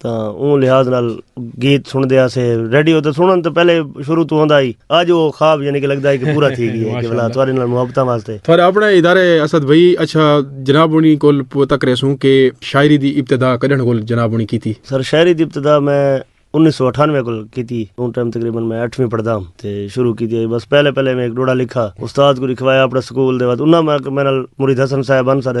تاں اوں لحاظ نال گیت سنڑدے ہاسے ریڈیو تے سنڑݨ توں پہلے شروع توں ہوندا ہئی اج او خواب یعنی کہ لگدا ہئی کہ پورا تھی گیا کہ بھلا تہاڈے نال محبتاں واسطے تہاڈے اپنڑے ادارے اسد بھئی اچھا جناب ہونی کول پتہ کریسوں کہ شاعری دی ابتدا کڈنڑ کول جناب ہونی کیتی؟ سر شاعری دی ابتدا میں انیس سو اٹھانوے کول کیتی اوں ٹائم تقریبا میں اٹھویں پڑھدا ہم تے شروع کیتی ہئی بس پہلے پہلے میں ہک ڈوہڑا لکھا استاد کوں لکھوایا اپنڑے سکول دے بعد انہاں میں میڈے نال مرید حسن صاحب ہن ساڈے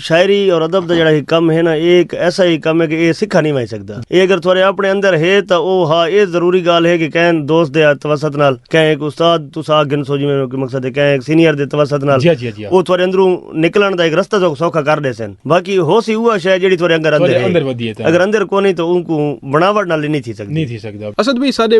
شاعری اور ادب دا جیڑھا ہک کم ہے نا اے ہک ایسا ہی کم ہے کہ اے سکھا نی ونج سکدا۔ اے اگر تھوارے اپنے اندر ہے تاں او ہا اے ضروری گال ہے کہ کہیں دوست دے توسط نال کہیں ہک استاد تساں آکھ گھنسو جیویں کہ مقصد ہے کہیں ہک سینئر دے توسط نال او تھوارے اندروں نکلن دا ہک رستہ تہاکوں سوکھا کر ڈیسن۔ باقی ہوسی اوہا شے جیڑھی تھوارے اندر اندر ہے۔ اگر اندر کونی تاں اونکوں بناوٹ نال نی تھی سکدی۔ اسد بھئی ساڈے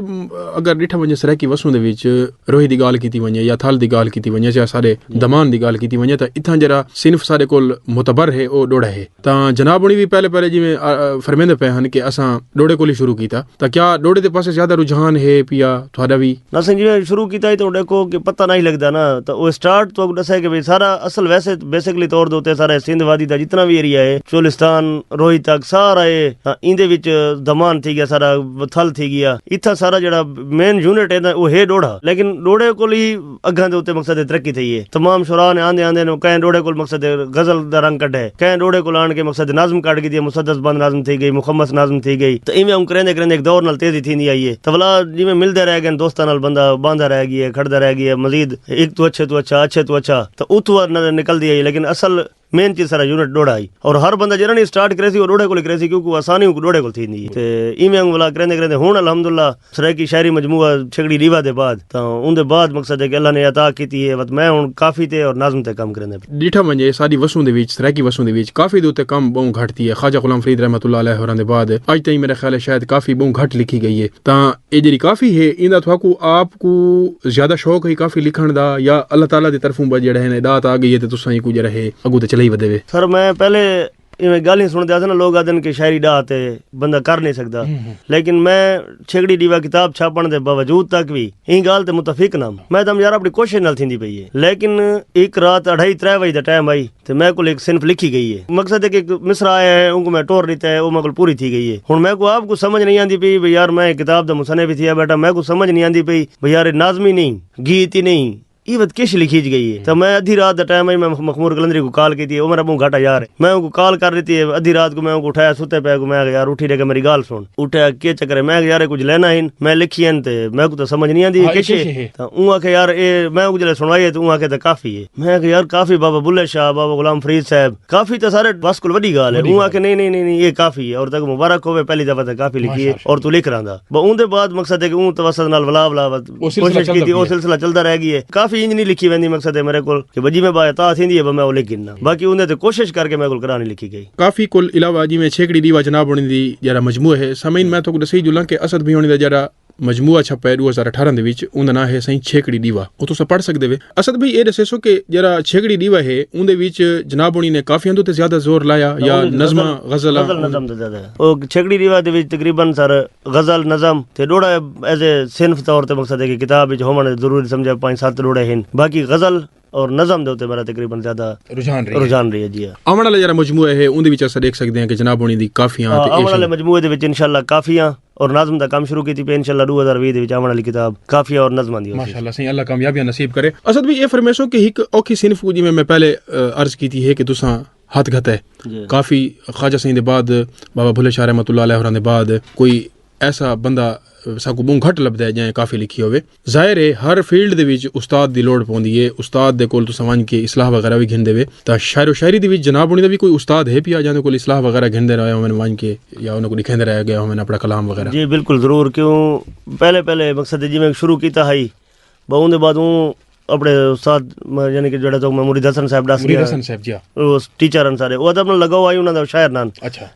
اگر ڈٹھا ونجے سرائیکی وسوں دے وچ روہی دی گالھ کیتی ونجے یا تھل دی گالھ کیتی ونجے یا ساڈے دمان دی گالھ کیتی ونجے تاں اتھاں جیرھا صنف ساڈے کول معتبر ہے او ڈوڑھا ہے تاں جناب ہنڑی وی پہلے پہلے جیویں فرمیندے پئے ہن کہ اساں ڈوڑھے کول ہی شروع کیتا تاں کیا ڈوڑھے دے پاسے زیادہ رجحان ہے پیا تہاڈا وی؟ اساں جیویں شروع کیتا ہی تاں ڈیکھو کہ پتہ نہ ہی لگدا نا تاں او سٹارٹ تہاکوں ڈسے کہ بھئی سارا اصل ویسے بیسکلی طور دے اتے سارا سندھ وادی دا جتنا وی ایریا ہے چولستان روہی تک سارا ہے ایندے وچ دمان تھی گیا ساڈا تھل تھی گیا اتھاں سارا جیرھا مین یونٹ ہے تاں او ہے ڈوڑھا لیکن ڈوڑھے کول ہی اگھاں دے اتے مقصد دی ترقی تھئی ہے۔ تمام شعراء نے آندے آندے نو کہیں ڈوڑھے کول مقصد دی غزل دا رنگ کڈھے، کہیں ڈوڑھے کول آن کے مقصد دی نظم کڈھ گھدی ہے، مسدس بند نظم تھئی گئی، مخمس نظم تھئی گئی تاں ایویں اوں کریندے کریندے ہک دور نال تیزی تھیندی آئی ہے تاں ولا جیویں ملدے رہ گئن دوستاں نال بندہ باندھا رہ گی ہے کھڑدا رہ گی ہے مزید ہک توں اچھے توں اچھا اچھے توں اچھا تاں اتھوں نظر نکلدی آئی ہے لیکن اصل مین چیز سارا یونٹ ڈوڑا ہئی اور ہر بندہ جیرا نہیں سٹارٹ کرے سی او ڈوڑے کول کرے سی کیونکہ آسانی اونکو ڈوڑے کول تھیندی تے ایویں انگ ولا کریندے کریندے ہن الحمدللہ سرائیکی شاعری مجموعہ چھگڑی لیوا دے بعد تاں اوندے بعد مقصد ہے کہ اللہ نے عطا کیتی ہے وت میں ہن کافی تے اور نظم تے کم کریندے پیا۔ ڈیٹھا ونجے ساڈی وسوں دے وچ سرائیکی وسوں دے وچ کافی دے اتے کم بہوں گھٹ تھی ہے خواجہ غلام فرید رحمۃ اللہ علیہ ہوراں دے بعد اج تئیں میرا خیال ہے شاید کافی بہوں گھٹ لکھی گئی ہے تاں ایہ جیڑھی کافی ہے ایندا تہاکوں آپ کوں زیادہ شوق ہے کافی لکھݨ دا یا اللہ تعالی دی طرفوں بس جیڑھا ہے نا ݙات آ ڳئی ہے تے تساں اینکوں جیڑھا ہے اڳوں تے چلائی ودے وے۔ سر میں پہلے ایویں ڳالھیں سݨدا ہساں نا لوک آہدن کہ شاعری ݙات ہے بندہ کر نئیں سڳدا لیکن میں چھیکڑی ݙیوا کتاب چھاپݨ دے باوجود تک وی ایں ڳالھ تے متفق نام۔ میں تم یار اپݨی کوشش نال تھیندی پئی ہے لیکن ہک رات اڑھائی ترے وڄے دا ٹائم ہئی تے میں کول ہک صنف لکھی گئی ہے۔ مقصد ہک ہک مصرع آیا ہے اونکوں میں ٹور ݙتا ہے او میں کول پوری تھی گئی ہے۔ ہݨ میں کوں آپ کوں سمجھ نئیں آندی پئی بھئی یار میں ہک کتاب دا مصنف ہی تھیا ٻیٹھاں میں کوں سمجھ نئیں آندی پئی بھئی یار اے ناظمی نئیں، گیت ای نئیں ایں وت کش لکھیج گئی ہے تاں میں ادھی رات دا ٹائم ہئی میں مخمور قلندری کوں کال کیتی ہے او میݙا ٻہوں گھاٹا یار ہے میں اونکوں کال کر ݙتی ہے ادھی رات کوں میں اونکوں اٹھایا ستے پئے کوں میں آکھیا یار اٹھی ݙے کے میݙی ڳالھ سݨ اٹھیا کے چکر ہے میں آکھیا یار اے کجھ لائناں ہن میں لکھیاں ہن تے میکوں تاں سمجھ نئیں آندی اے کش ہے تاں اوں آکھیا یار اے میں اونکوں جݙاں سݨوائی ہے تاں اوں آکھیا تاں کافی ہے۔ میں آکھیا یار کافی بابا بلے شاہ، بابا غلام فرید صاحب، کافی تاں سارے بس کول وڈی گالھ ہے۔ اوں آکھیا نئیں نئیں نئیں ایہ کافی ہے، اور تاکوں مبارک ہووے پہلی دفعہ تاں کافی لکھی ہے اور توں لکھ رہندا۔ بس اوندے بعد مقصد ہے کہ اوں توسط نال ولا ولا وت کوشش کیتی او سلسلہ چلدا رہ گی ہے۔ کافی انج نئیں لکھی ویندی مقصد ہے میرے کول کہ جیویں با عطا تھیندی ہے بس میں او لکھ گھننا۔ باقی اوندے تے کوشش کر کے میرے کول کراہ نئیں لکھی گئی۔ کافی کول علاوہ جیویں چھیکڑی ڈیوا جناب ہوݨیں دی جیہڑا مجموعہ ہے، سامعین میں تہاکوں ڈسئی جولاں کہ اسد بھیونڑیں دا جیہڑا۔ مجموعہ چھپے ڈو ہزار اٹھارہ دے وچ اوندا ناں ہے سائیں چھیکڑی ڈیوا او تساں پڑھ سکدے وے اسد بھئی اے ڈسیسو کہ جیرا چھیکڑی ڈیوا ہے اوندے وچ جناب ہونی نے کافیاں دے تے زیادہ زور لایا یا نظماں غزلاں غزل نظم تے زیادہ او چھیکڑی ڈیوا دے وچ تقریبا سر غزل نظم تے ڈوڑا ایز اے صنف طور تے مقصد ہے کہ کتاب وچ ہووݨ ضروری سمجھا پنج ست ڈوڑے ہن باقی غزل اور نظم دے اتے میرا تقریبا زیادہ رجحان رہی رجحان رہی ہے جی ہاں آون والا جڑا مجموعہ ہے اوندے وچ اسا ڈیکھ سکدے ہیں کہ جناب ہونی دی کافیاں تے آون والے مجموعے دے وچ انشاءاللہ کافیاں اور نظم دا کم شروع کیتی پے انشاءاللہ 2020 دے وچ آون والی کتاب کافیاں اور نظماں دی ہوسی ماشاءاللہ سائیں اللہ کامیابیاں نصیب کرے اسد بھی اے فرمیسو کہ ایک اوکھی صنف کو جویں میں پہلے عرض کیتی ہے کہ تساں ہاتھ گھتا ہے کافی خواجہ سائیں دے بعد بابا بھلے شاہ رحمۃ اللہ علیہ ہوراں دے بعد کوئی ایسا بندہ ساکو بوں گھٹ لبدا ہے جائیں کافی لکھی ہوے ظاہر ہے ہر فیلڈ دے وچ استاد دی لوڑ پوندی ہے استاد دے کول تساں ونج کے اصلاح وغیرہ وی گھندے وے تاں شاعر و شاعری دے وچ جناب ہونی دا وی کوئی استاد ہے پیا جاندے کول اصلاح وغیرہ گھندے رہے ہوون ونج کے یا انہاں کوں ڈکھیندے رہ گئے ہوون اپنا کلام وغیرہ جی بالکل ضرور کیوں پہلے پہلے مقصد جی میں شروع کیتا ہئی بہوں دے بعد اوں اپنے استاد یعنی کہ جڑا تو میں مرید حسن صاحب ڈس گیا۔ ٹیچر ہن سارے او ادب نال لگا ہوا ہی انہاں دا شاعر نان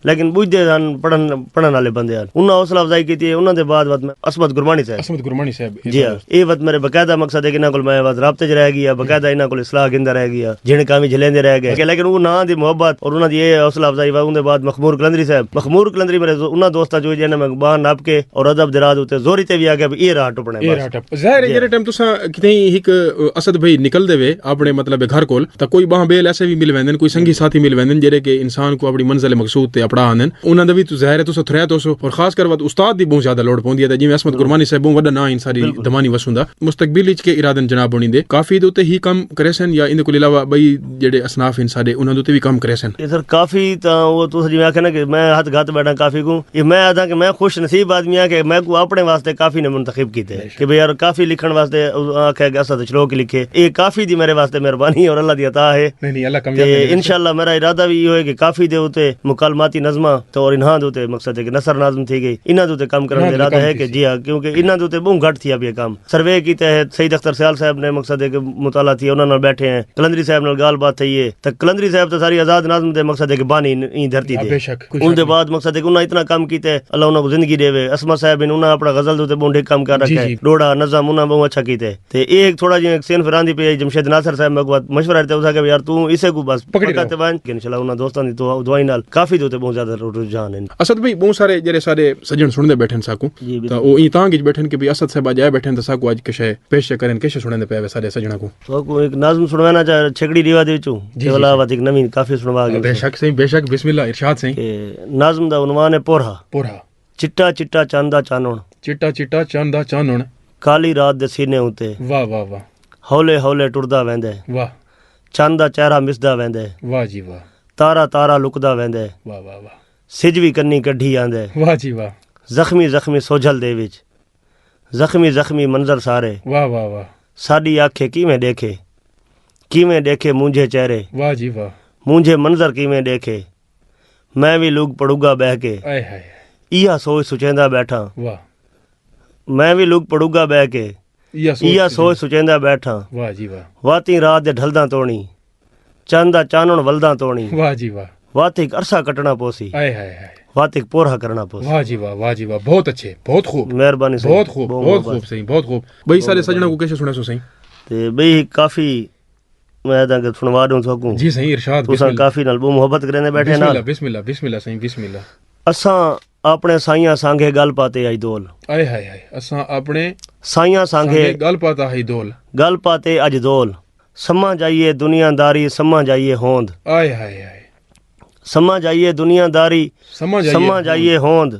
لیکن بوجھدے ہن پڑھن پڑھن والے بندے ہن انہاں حوصلہ افزائی کیتی ہے انہاں دے بعد وت میں عصمت گرمانی صاحب عصمت گرمانی صاحب جی ہاں اے وت میرے باقاعدہ مقصد ہے کہ انہاں کول میں وت رابطے وچ رہ گیا باقاعدہ انہاں کول اصلاح گھندا رہ گیا جن کاویں جھلیندے رہ گئے لیکن او ناں دی محبت اور انہاں دی اے حوصلہ افزائی وا اون دے بعد مخمور قلندری صاحب مخمور قلندری میرے انہاں دوستاں چوں جنہاں میں باہر نپ کے اور ادب دے راہ تے زوری تے وی آ گیا اے راہ ٹپ اے راہ ٹپ ظاہر ہے جیرے ٹائم تساں کتیں ہک اسد بھئی نکل دے وے اپنے مطلب گھر کول تا کوئی باہاں بیل ایسے بھی مل ویندن کوئی سنگی ساتھی مل ویندن جیرے کہ انسان کو اپنی منزل مقصود تے اپڑا آندن انہاں دا بھی تو ظاہر ہے تساں تھرے تو سو اور خاص کر وقت استاد دی بہت زیادہ لوڑ پوندی ہے تے جویں عصمت گرمانی صاحب بہت وڈا ناں ہیں ساری دمانی وسوں دا مستقبل وچ کے ارادن جناب ہونی دے کافی دے تے ہی کم کریسن یا ان دے کول علاوہ بھئی جیڑھے اصناف ہن ساڈے انہاں دے اتے وی کم کریسن۔ اے سر کافی تاں اوہ تساں جیویں آکھیا نا کہ میں ہتھ گھت بیٹھاں کافی کوں اے میں آدھاں کہ میں خوش نصیب آدمی ہاں کہ میکوں اپنے واسطے کافی نے منتخب کیتے کہ بھئی یار کافی لکھن واسطے آکھیا کہ اساں تاں شروع کی لکھیے اے کافی دی میرے واسطے مہربانی اور اللہ دی عطا ہے تے انشاءاللہ میرا ارادہ وی ایہو ہے کہ کافی دے اتے مکالماتی نظماں تے اور انہاں دے اتے مقصد ہے کہ نثر ناظم تھی گئی انہاں دے اتے کم کرن دا ارادہ ہے کہ جی ہاں کیونکہ انہاں دے اتے بہوں گھٹ تھیا پیا کم۔ سروے کی تحت سعید اختر سیال صاحب نے مقصد ہے کہ مطالعہ تھیے انہاں نال بیٹھے ہیں قلندری صاحب نال گال بات تھئی ہے تاں قلندری صاحب تاں ساری آزاد ناظم دے مقصد ہے کہ بانی ایں دھرتی دے ان دے بعد مقصد ہے کہ انہاں اتنا کم کیتے اللہ انہاں کو زندگی ڈیوے اسما صاحب ہیں انہاں اپنا غزل دے تے بہوں ڈھے کم کر رکھے ہیں ڈوڑا نظم انہاں بہوں اچھا کیتے تے اے ایک تھوڑا جی ایک سین فراندی پہ جمشید ناصر صاحب میں کو مشورہ دیتا ہوں کہ یار تو اسے کو بس پکڑ کر تے وان کہ انشاءاللہ انہاں دوستاں دی دعائیں نال کافی دے تے بہوں زیادہ رجحان ہیں اسد بھائی بہوں سارے جڑے سارے سجن سن دے بیٹھے ہیں ساکوں تاں او ایں تانگھ اچ ٻیٹھن کہ بھئی اسد صاحب اڄ آئے ٻیٹھن تاں ساکوں اڄ کشے پیش چا کرن کشے سݨیندے پئے وے ساݙے سڄݨاں کوں۔ تہاکوں ہک نظم سݨوینداں چا چھیکڑی ݙیوا دے وچوں تے ولا وت ہک نویں کافی سݨوا گھن ساں۔ بے شک سئیں بے شک بسم اللہ ارشاد سئیں۔ کہ نظم دا عنوان ہے پورھا۔ پورھا۔ چٹا چٹا چن دا چانݨ۔ چٹا چٹا چن دا چانݨ۔ کالی رات دے سینے اتے۔ واہ واہ واہ۔ ہولے ہولے ٹردا ویندے۔ واہ۔ چن دا چہرہ مسدا ویندے۔ واہ جی واہ۔ تارا تارا لکدا ویندے۔ واہ واہ واہ۔ سجھ وی کنیں کڈھی آندے۔ واہ جی واہ۔ زخمی زخمی سوجھل دے وچ۔ زخمی زخمی منظر سارے۔ واہ واہ واہ۔ ساڈی آکھیں کیویں ڈیکھے۔ کیویں ڈیکھے مونجھے چہرے۔ واہ جی واہ۔ مونجھے منظر کیویں ڈیکھے۔ میں وی لگ پڑگا بہہ کے۔ آئے ہائے ہائے۔ ایہا سوچ سچیندا بیٹھاں۔ واہ۔ میں وی لگ پڑگا بہہ کے۔ ایہا سوچ سچیندا بیٹھاں۔ واہ جی واہ۔ واتیں رات دے ڈھلداں توڑیں۔ چن دا چانݨ ولداں توݨی واہ جی واہ وت ہک عرصہ کٹنا پوسی آئے ہائے ہائے وت ہک پورھا کرنا پوسی واہ جی واہ واہ جی واہ بہت اچھے بہت خوب مہربانی سائیں بہت خوب بہت خوب سائیں بہت خوب بھئی سارے سجنا کو کیسے سنے سو سائیں تے بھئی کافی میں داں کہ سنوا دوں سکوں جی سائیں ارشاد بسم اللہ کافی نال بو محبت کریندے بیٹھے بسم اللہ بسم اللہ بسم اللہ سائیں بسم اللہ اساں اپنے سائیاں سانگے گل پاتے آئی دول آئے ہائے ہائے اساں اپنے سائیاں سانگے گل پاتا ہائی دول گل پاتے اج دول سمجھ آئیے دنیا داری سمجھ آئیے ہوند۔ آئے ہائے ہائے۔ سمجھ آئیے دنیا داری سمجھ آئیے ہوند۔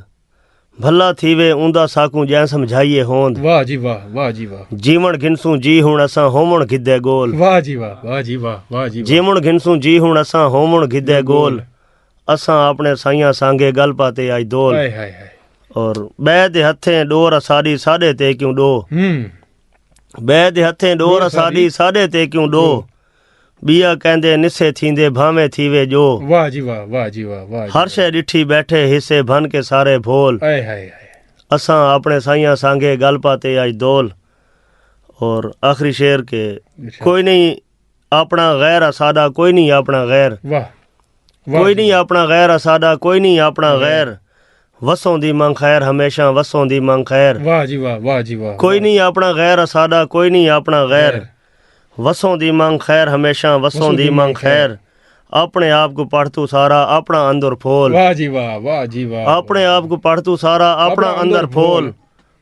بھلا تھیوے اوندا ساکوں جئیں سمجھائیے ہوند۔ واہ جی واہ واہ جی واہ۔ جیون گھنسوں جی ہن اساں ہوون گھدے گول۔ واہ جی واہ واہ جی واہ واہ جی واہ۔ جیون گھنسوں جی ہن اساں ہوون گھدے گول۔ اساں آپنے سائیاں سانگے گل پاتے آئی دول۔ آئے ہائے ہائے۔ اور بئے دے ہتھیں ڈور اساڈی ساڈے تے کیوں ڈو۔ ہم۔ ٻئے دے ہتھیں ݙو رساݙی ساݙے تے کیوں ݙو ٻیا کیندے نسے تھیندے بھانویں تھیوے جو واہ جی واہ واہ جی واہ واہ ہر شے ݙٹھی ٻیٹھے حصے بھن کے سارے بھول ہائے ہائے ہائے اساں اپݨے سائیاں سانگھے ڳل پاتے اڄ دول اور آخری شعر کہ کوئی نہیں آپݨا غیر اساݙا کوئی نہیں آپݨا غیر واہ کوئی نہیں آپݨا غیر اساݙا کوئی نہیں آپݨا غیر وسوں دی منگ خیر ہمیشہ وسوں دی منگ خیر واہ جی واہ واہ جی واہ کوئی نہیں آپݨا غیر اساݙا کوئی نہیں آپݨا غیر وسوں دی منگ خیر ہمیشہ وسوں دی منگ خیر اپنے آپ کو پڑھ تو سارا اپنا اندر پھول واہ جی واہ واہ جی واہ اپنے آپ کو پڑھ تو سارا اپنا اندر پھول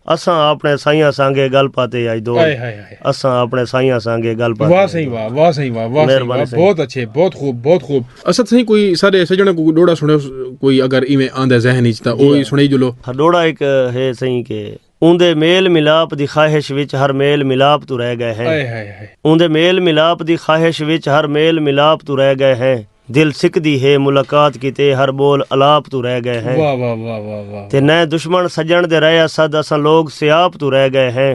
اساں آپݨے سائیاں سانگے گل پاتے آئی دو آئے ہائے ہائے اساں آپݨے سائیاں سانگے گل پاتے واہ سائیں واہ واہ سائیں واہ واہ سائیں واہ بہت اچھے بہت خوب بہت خوب اسد سائیں کوئی سارے سجنے کو ڈوڑا سنے کوئی اگر ایویں آندا ذہن وچ تاں اوہی سنائی جلو ڈوڑا ایک ہے سائیں کہ اوندے میل ملاپ دی خواہش وچ ہر میل ملاپ توں رہ گئے ہیں آئے ہائے ہائے اوندے میل ملاپ دی خواہش وچ ہر میل ملاپ توں رہ گئے ہیں دل سکدی ہے ملاقات کیتے ہر بول الاپ توں رہ گئے ہیں تے نئے دشمن سجن دے رہے اسد اساں لوگ سیاپ توں رہ گئے ہیں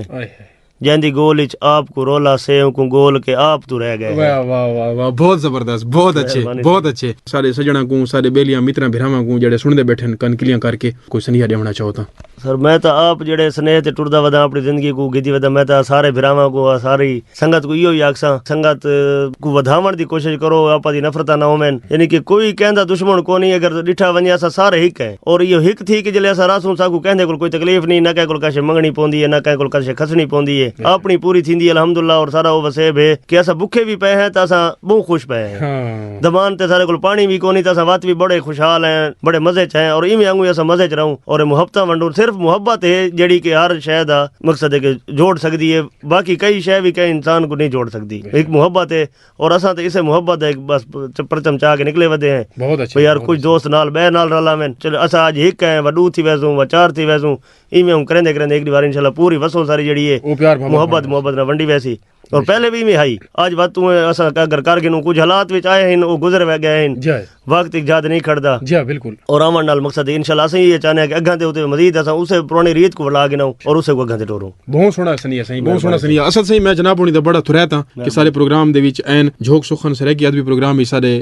جیندی گول اچ آپ کوں رولا سے اونکوں گول کے آپ توں رہ گئے ہیں بہت زبردست بہت اچھے بہت اچھے سارے سجناں کوں سارے بیلیاں متراں بھراواں کوں جڑے سن دے بیٹھن کن کلیاں کر کے کوئی سنیہ ڈیونا چاہو تاں سر میں تاں آپ جیڑھے سنیہ تے ٹردا وداں اپنی زندگی کوں گھدی وداں میں تاں سارے بھراواں کوں آ ساری سنگت کوں ایہو ہی آکھساں سنگت کوں ودھاوݨ دی کوشش کرو آپاں دی نفرتاں نہ ہوون یعنی کہ کوئی کہیں دا دشمن کونی اگر ڈٹھا ونجے اساں سارے ہک ہیں اور ایہو ہک تھی کہ جلے اساں رہسوں ساکوں کہیں دے کول کوئی تکلیف نی نہ کہیں کول کشے منگنی پوندی ہے نہ کہیں کول کشے کھسنی پوندی ہے آپنی پوری تھیندی ہے الحمداللہ اور سارا او وسیب ہے کہ اساں بکھے وی پئے ہیں تاں اساں بہوں خوش پئے ہیں۔ زبان تے اساݙے کول پاݨی وی کونی تے اساں وت وی بڑے خوشحال ہیں بڑے مزے ءچ ہیں اور ایویں آنگوں ای اساں مزے ءچ رہوں اور محبتاں ونڈوں صرف محبت ہے جیڑھی کہ ہر شے دا مقصد ہے کہ جوڑ سکدی ہے باقی کئی شے وی کہیں انسان کوں نی جوڑ سکدی ہک محبت ہے اور اساں تے اسے محبت دا ہک بس پرچم چا کے نکلے ودے ہیں بھئی یار کچھ دوست نال بئے نال رل آوین چلو اساں اج ہک ہیں و ڈو تھی ویسوں و چار تھی ویسوں ایویں آنگوں کریندے کریندے ہک ڈی واری انشاءاللہ پوری وسوں ساری جیڑھی ہے محبت محبت نال ونڈی ویسی۔ اور پہلے بھی میں ہائی آج وقت تو اسا اگر کر گنوں کچھ حالات وچ آئے ہیں او گزر وے گئے ہیں جائے وقت ایک جاد نہیں کھڑدا جا بالکل اور آون نال مقصد ہے انشاءاللہ اسا یہ چاہنے ہیں کہ اگاں دے اوتے مزید اسا اسے پرانی ریت کو بلا گنوں اور اسے کو اگاں دے ٹوروں بہت سونا سنیا سائیں بہت سونا سنیا اصل سائیں میں جناب ہونی دا بڑا تھرے تاں کہ سارے پروگرام دے وچ این جھوک سخن سرے کی ادبی پروگرام ہی سارے